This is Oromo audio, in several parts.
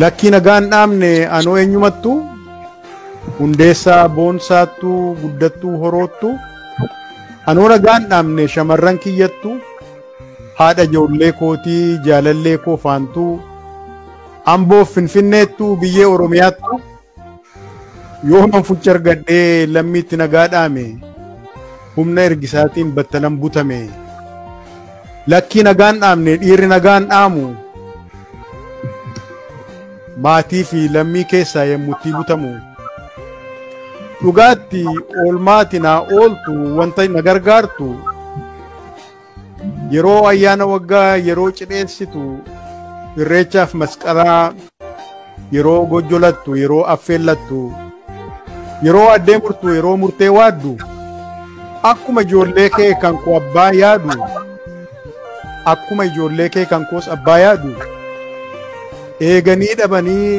Lakkii nagaa hin dhaabne anoo eenyumattu hundeessaa boonsaattu guddattuu horoottu anoo nagaa hin dhaabne shamarran kiyyattu haadha ijoollee kootii jaalallee koo faantuu amboof finfinneettu biyyee oromiyaattu Yoo manfucha argadhee lammiitti nagaa dhaame humna ergisaatiin battalan butame lakkii nagaan dhaamne dhiirri nagaan dhaamu maatii fi lammii keessaa yemmuttii butamu dhugaatti oolmaati naa ooltu wanta na gargaartu Yeroo ayyaana waggaa yeroo cidheessitu irreechaaf masqalaa yeroo gojjolattu yeroo affeellattu yeroo addee murtu yeroo murtee waaddu akkuma ijoollee kee kan koo abbaa yaadu akkuma ijoollee kee kan koos abbaa yaadu eeganii dhabanii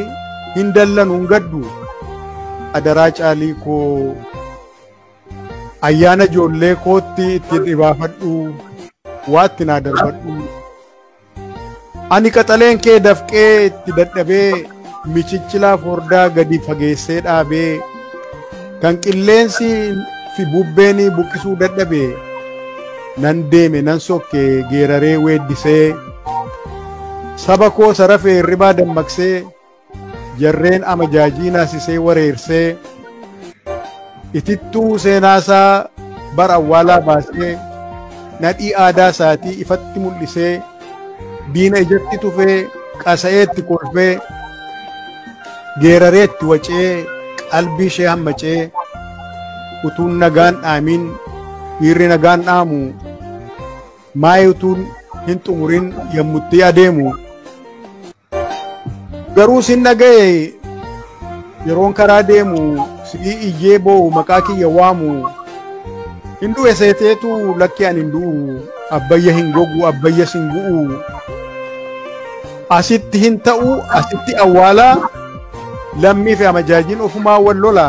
hin dallanu hin gaddu adaraa caalii koo Ayyaana ijoollee kootti ittiin dhibaafadhu waatti naa darbadhu. Ani qaxaleen kee dafqee itti dadhabee michichilaa fordaa gadi fageessee dhaabee kan qilleensi fi bubbeen buqqisuu dadhabe nan deeme nan sokke geeraree weeddisee saba koo sarafee hirribaa dammaqsee. jarreen amajaajii naasisee wareersee itittuu seenaasaa bara awwaalaa baasee nadhii aadaa isaatii ifatti mul'isee diina ijatti tufee qasa'eetti kolfee geerareetti wacee qalbii ishee hammacee utuun nagaan dhaamiin dhiirri nagaan dhaamu maayii utuun hin xumurin yommutti adeemu. Garuu sin dhaga'e yeroon karaa deemu si'ii iyyee boo'u maqaa kiyya waamu hin du'e seeteetu lakkee ani hin du'u abbayya hin gogu abbayya sin gu'u asitti hin ta'u asitti awwaala lammii fi amajaajiin ofumaa wal lola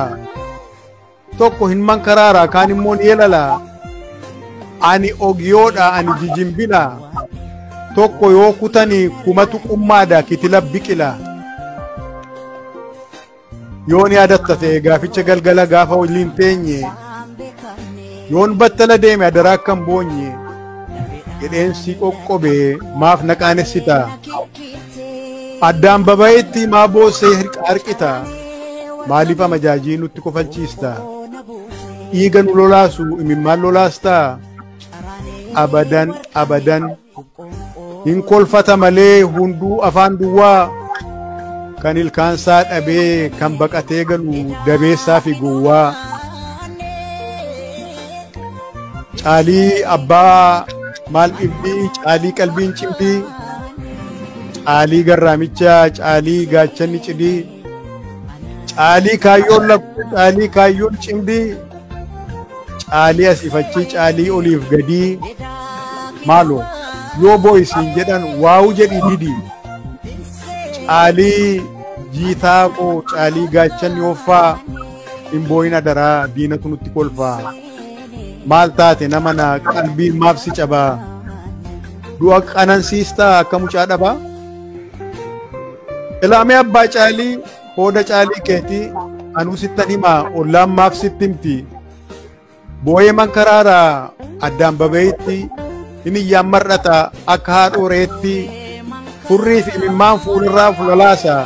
tokko hin mankaraara kaan immoo ni elala ani ogiyoodha ani jijimbila tokko yoo kutani kumatu qummaada kitila biqila yoon yaadatta ta'e gaaficha galgala gaafa waliin teenye yoon battala deeme adaraa akkan boonye jedheen si qoqqobe maaf na qaanessita Addaan babayetti maa boossee hirqa harqita maaliif amajaajii nutti kofalchiista dhiiga nu lolaasu imimmaan lolaasta abadan abadan hin kolfata malee hunduu afaan duwwaa kan ilkaansaa dhabee kan baqatee galu dabeessaa fi gowwaa. Caalii abbaa maal dhibbii caalii qalbiin cimdii caalii garraamicha caalii gaachanni cidii caalii kaayyoon lakkuu caalii kaayyoon cimdii caalii asiifachii caalii oliif gadii maaloo yoo booyisiin jedhan waa'u jedhii didii caalii jiitaa koo caalii gaachanni hoffaa hin booyin adaraa diinatu nutti kolfaa. maal taate nama na qalbiin maaf si cabaa du'a qanansiistaa akka mucaa dhabaa ilaamee abbaa caalii hooda caalii keetii anuu sittan himaa ollaan maaf sitti himti boo'ee man karaaraa addaan babeeyitti Himiyyaan mar'ata akka haadhoo reetti furrii fi imimmaan fuulirraa fulalaasa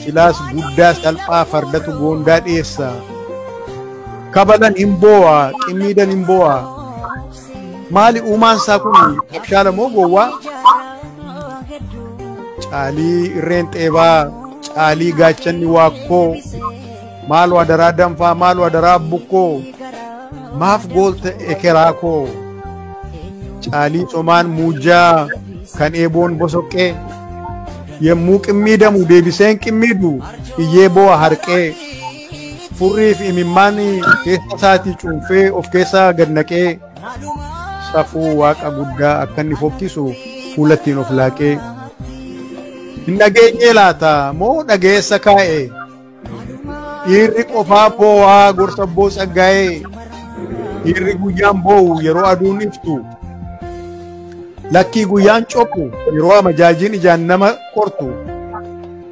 silaas guddaa salphaa fardatu goondaa dhiyeessa kabalan hin boo'a qimmiidan hin boo'a maali uumaan isaa kun abshaala moo gowwaa caalii irreen xeebaa caalii gaachanni waakkoo Maaloo adaraa danfaa maaloo adaraa bukkoo maaf goolta ekeraa koo caalii somaan muujjaa kan eeboon bosoqqee yemmuu qimmiidamu deebiseen qimmiidu iyyee boo'a harqee furriif imimmaan keessa isaatii cuunfee of keessaa gad naqee safuu waaqa guddaa akka inni fokkisu fuulattiin of laaqee hin dhageenyee laata moo dhageessa kaa'e. Dhiirri qofaa boo'aa gorsa boo tsaggaa'ee dhiirri guyyaan boo'u yeroo aduun iftu lakkii guyyaan cophu yeroo amajaajiin ijaan nama qortu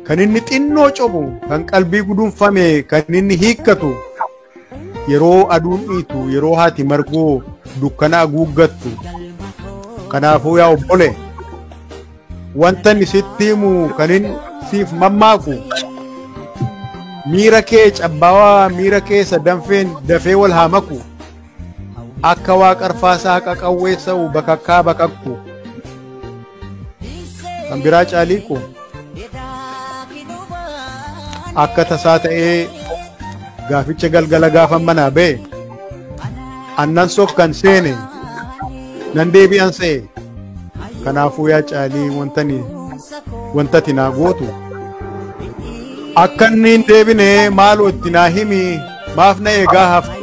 kan inni xinnoo cophu kan qalbii gudunfame kan inni hiikkatu yeroo aduun dhiitu yeroo haati margoo dukkanaa guuggattu kanaafuu yaa obbole wanta inni sitti himu kan inni siif mammaaku miira kee cabbaawaa miira keessa danfeen dafee wal haa maku akka waa qarfaasaa qaqawweessa'u bakakkaa bakakku Kan biraa caalii koo akka tasaa ta'ee gaaficha galgala gaafan manaa ba'e annan sokkan seene nan deebi'an se'e kanaafuu yaa caalii wantani wantati naa gootu akka inni hin deebine maaloo itti naa himi maaf na eegaa haftu